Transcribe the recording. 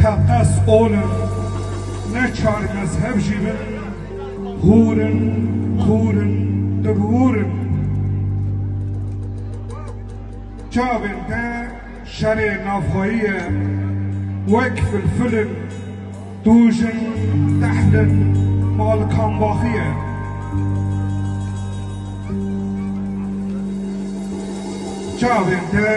Teqez ol in, ne çar mezheb jî bin, hûr in, kûr in, dibûr in. Çavên te şerê navxweyî ye, wek filfil in, tûj in, tehl in, malkambaxî ye. Çavên te.